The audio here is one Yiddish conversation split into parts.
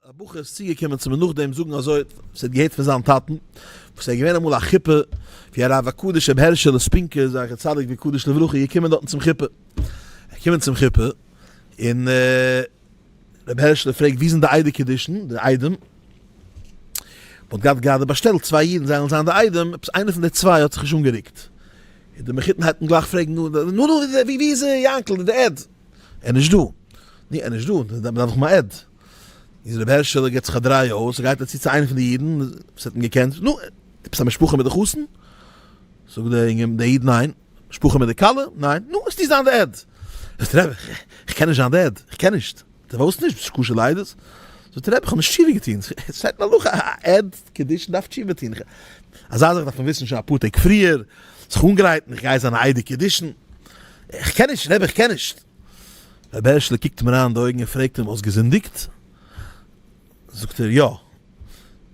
א בחור איז צוגעקומען צו מיר נאכדעם זאגן אזוי וואס ער האט געהערט פון זיין טאטן וואס ער איז געווען אמאל א חופה ווי הרב הקדוש רבי הערשעלע ספינקער זכר צדיק וקדוש לברכה איז געקומען דארטן צום חופה ער קומען צום חופה און רבי הערשעלע פרעגט ווי זענען די איידער קדישן די איידעם מען האט געהאט גראדע באשטעלט צוויי אידן זיי וועלן זיין די איידעם עפעס איינער פון די צוויי האט זיך נישט אנגערוקט איז די מחותן הייבט אן גלייך פרעגן נו נו נו ווי איז ער יענקל איז דער עד ער איז נישט דא נו ער איז נישט דא דארף איך אים א עד איז רבי הערשעלע גיט זיך א דריי אויס, ער גייט אצו צו איינע פון די אידן וואס האט אים געקענט, נו, עפעס א משפחה מיט די חתן? זאגט דער אינגער, דער איד, ניין. משפחה מיט די כלה? ניין. נו, וועסטו זיין די עד? זאגט רבי, איך קען נישט זיין די עד, איך קען נישט. די וואוסט נישט? ביסט קשה ליידעס? זאגט רבי, איך האב נישט תשובה געטון. שטייט אין הלכה א עד קדושין דארף תשובה טון. אזא זאך דארף מען וויסן שוין אפאר טעג פריער, זיך אנגרייטן, איך גיי זיין א עד קדושין. איך קען נישט, רבי איך קען נישט. רבי הערשלע קוקט אים אריין אין די אויגן און פרעגט אים, האסט געזינדיגט? זאגט ער, יא.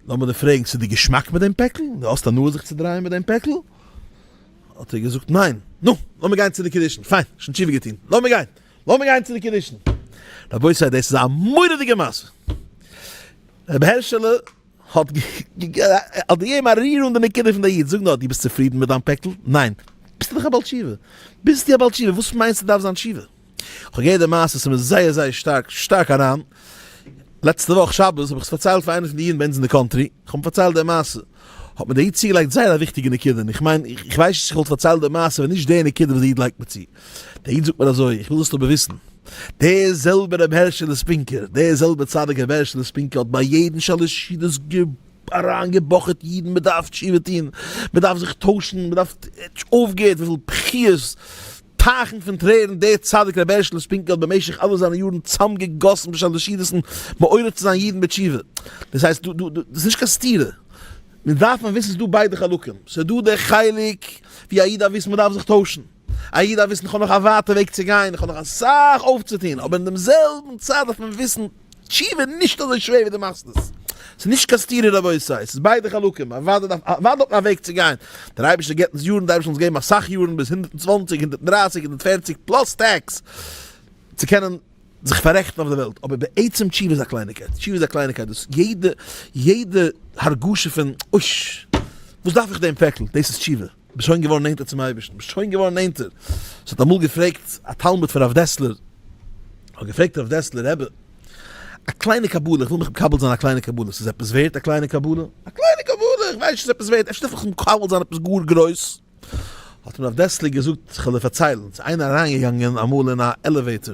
לאמיר דיר פרעגן, ס'איז דיר געשמאק מיט דעם פעקל? דו האסט הנאה זיך צו דרייען מיט דעם פעקל? האט ער געזאגט, ניין. נו, לאמיר גיין צו די קידושין. פיין, שוין תשובה געטון. לאמיר גיין. לאמיר גיין צו די קידושין. רבותי, דאס איז א מורא'דיגע מעשה. רבי הערשלע האט געגעבן א ריר אן די נקודה פון די איד, זאג נאר, דו ביסט צופרידן מיט דיין פעקל? ניין. ביסטו דאך א בעל תשובה. ביסטו א בעל תשובה, וואס מיינסטו דארף זיין תשובה? איך האב געהערט די מעשה, עס איז מיר זייער זייער שטארק שטארק אריין, לעצטע וואך שבת האב איך עס פארציילט פאר איינע פון די אידן ביי אונז אין די קאנטרי, איך האב אים פארציילט די מעשה, האט מיר דער איד צוגעלייגט זייער א וויכטיגע נקודה, און איך מיין, איך ווייס נישט צו איך וואלט פארציילט די מעשה ווען נישט די נקודה וואס די איד לייגט מיר צו. דער איד זאגט מיר אזוי, איך וויל זאלסט אבער וויסן, דער זעלבער רבי הערשעלע ספינקער, דער זעלבער צדיק רבי הערשעלע ספינקער האט ביי יעדן שלש ידות אריין געבאכעט אידן, מען דארף תשובה טון, מען דארף זיך טוישן, מען דארף, ער האט נישט אויפגעהערט, וויפיל בכיות, טייכן פון טרערן דער צדיק רבי הערשעלע ספינקער האט במשך אלע זיינע יארן צאם געגאסן בשלש ידות'ן מעורר צו זיין אידן בתשובה, דאס הייסט דא דא דא, דאס איז נישט קיין סתירה, מען דארף מען וויסן ס'איז דא ביידע חלקים, ס'איז דא דער חלק ווי א איד דארף וויסן מען דארף זיך טוישן. א איד דארף וויסן איך האב נאך א ווייטע וועג צו גיין, איך האב נאך אסאך אויפצוטון, אבער אין דעם זעלבן צייט דארף מען וויסן, תשובה איז נישט אזוי שווער ווי דו מאכסט עס, ס'איז נישט קיין סתירה רבותי, עס איז ביידע חלקים, א ווייטע דארף א ווייטע וועג צו גיין, דער אייבערשטער געבט אונז יארן, דער אייבערשטער זאל אונז געבן אסאך יארן ביז הונדערט און צוואַנציק, הונדערט און דרײַסיק, הונדערט און פֿערציק פלאס טעקס, צו קענען זיך פאררעכטן אויף דער וועלט, אבער בעצם תשובה איז א קלייניגקייט, תשובה איז א קלייניגקייט, דאס יעדע יעדע הרגשה פון אויש, וואס דארף איך דעם פעקל, דאס איז תשובה. ביסט שוין געווארן נענטער צום אייבערשטן, ביסט שוין געווארן נענטער. עס האט אמאל געפרעגט א תלמיד פון רב דעסלער, האט געפרעגט רב דעסלער רבי, א קליינע קבלה, איך וויל מיך מקבל זיין א קליינע קבלה, ס'איז עפעס ווערט א קליינע קבלה? א קליינע קבלה, איך ווייס נישט צו עפעס ווערט, אפשר דארף איך מיך מקבל זיין עפעס גאר גרויס? האט אים רב דעסלער געזאגט, כ'על דיר פארציילן, ס'איז איינער אריינגעגאנגען אמאל אין א עלעוועיטאר,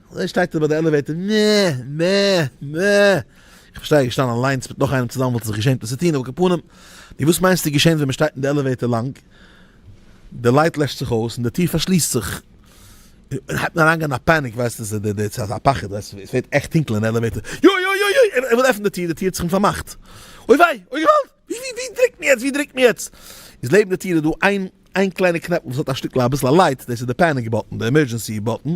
אזוי שטייט ער ביי די עלעוועיטער, מע, מע, מע. איך בין שטייל געשטאנען אליינס מיט נאך איינעם צוזאמען וואלט איך זיך געשעמט עס צו טון, על כל פנים, נו וואס מיינסטו איז געשען ווען מען שטייט אין די עלעוועיטער לאנג? די לייט לעשט זיך אויס און די טיר פארשליסט זיך. און הייבט מען אריינגיין א פאניק ווייסט עס איז די צייט א פחד ווייסט עס ווערט עכט טונקל אין עלעוועיטער, יוי יוי יוי יוי ער וויל עפענען די טיר די טיר האט זיך אים פארמאכט אוי וויי אוי געוואלד. ווי ווי דריקט מען יעצט ווי דריקט מען יעצט? איז לעבן די טיר איז דא איין איין קליינע קנעפל וואס האט א שטיקל אביסל א לייט דאס איז די פעניק באטן די עמערדזשענסי באטן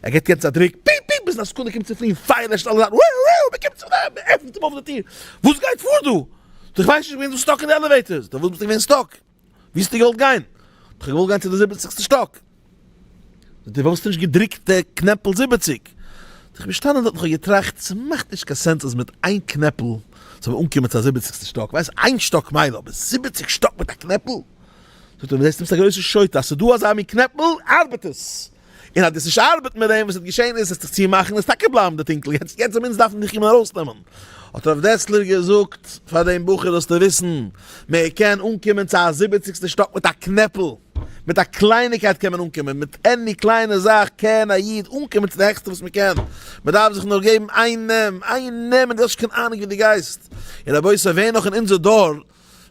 ער געט יעצט א דריק פיפ פיפ ביזן א סעקונדע קומט צו פליען פייער לעשט אלע זאכן וואו וואו מען קומט צו די מען עפנט אים אויף די טיר וואס גייט פאר דא? איך ווייס נישט איך בין דא סטאק אין די עלעוועיטארס דו וואלסט ביסט געווען סטאק. ווי האסטו געוואלט גיין? האב איך געוואלט גיין צו די זיבעציגסטע שטאק. זאגט ער, ווארום האסטו נישט געדרוקט די קנעפל זיבעציג? האב איך געשטאנען דארט און כ'האב געטראכט, ס'מאכט נישט קיין סענס אז מיט איין קנעפל זאל מען אנקומען צו א זיבעציגסטע שטאק, כ'ווייס איין שטאק מילא, אבער זיבעציג שטאק מיט א קנעפל? זאגט ער, דו זעסט נישט ביסט א גרויסע שוטה, אז ס'איז דא אזא מין קנעפל, ארבעט עס! און אז דאס נישט ארבעט מיט דעם וואס האט געשען איז עס זיך צו מאכן און עס טאקע בלייבן די טינקל יעצט יעצט זוממער דארף מען דיך קומען ארויסנעמען האט הרב דעסלער געזאגט פאר דעם בחור זאלסטו וויסן מען קען אנקומען צו א זיבעציגסטע שטאק מיט א קנעפל מיט א קלייניקייט קען מען אנקומען מיט עני קליינע זאך קען א איד אנקומען צו די העכסטע וואס מען קען מען דארף זיך נאר געבן איין נעם איין נעם און דו האסט שוין קיין אהנונג ווי דו גייסט און רבותי ווער נאך אין אונזער דור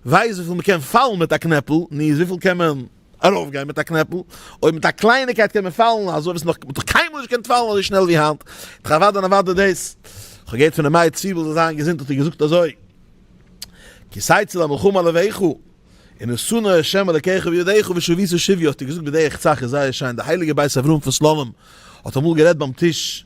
ווייז וויפיל מען קען פאלן מיט א קנעפל, ני איז וויפיל קען מען ארויפגיין מיט א קנעפל, אויב מיט א קלייניקייט קען מען פאלן אזוי וואס מען האט נאך קיינמאל נישט געקענט פאלן אזוי שנעל ווי היינט, איך ערווארט דען ערווארט דו דאס, איך האב געהערט פון א מייער צוויבל זאל זיין געזונט האט ער געזאגט אזוי, כי סייצי למלחמה לבביך, און און שנא ה' אלקיך בידיך ושביסו שביו האט ער געזאגט בדרך צח איז זייער שיין, די הייליגע בית אברהם פון סלאנים האט אמאל גערעדט ביים טיש,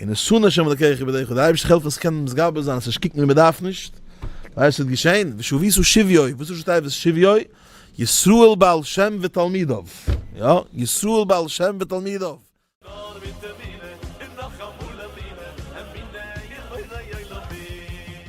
און נשׂא ה' אלקיך איבער דיך, און דער אייבערשטער העלפֿט אונדז קענען מתגבר זײַן, און ס'נישט קוקן ווי מע דאַרף נישט, ווייל עס וועט געשען, ושבֿיסו שִבֿיו, וואָס איז שטייט ושבֿיו? ישׂראל בעל שם ותּלמידיו, יא, ישׂראל בעל שם ותּלמידיו. נאָר מיט אמונה און נאָך אַ מאָל אמונה, אמונה אין בורא עולמים.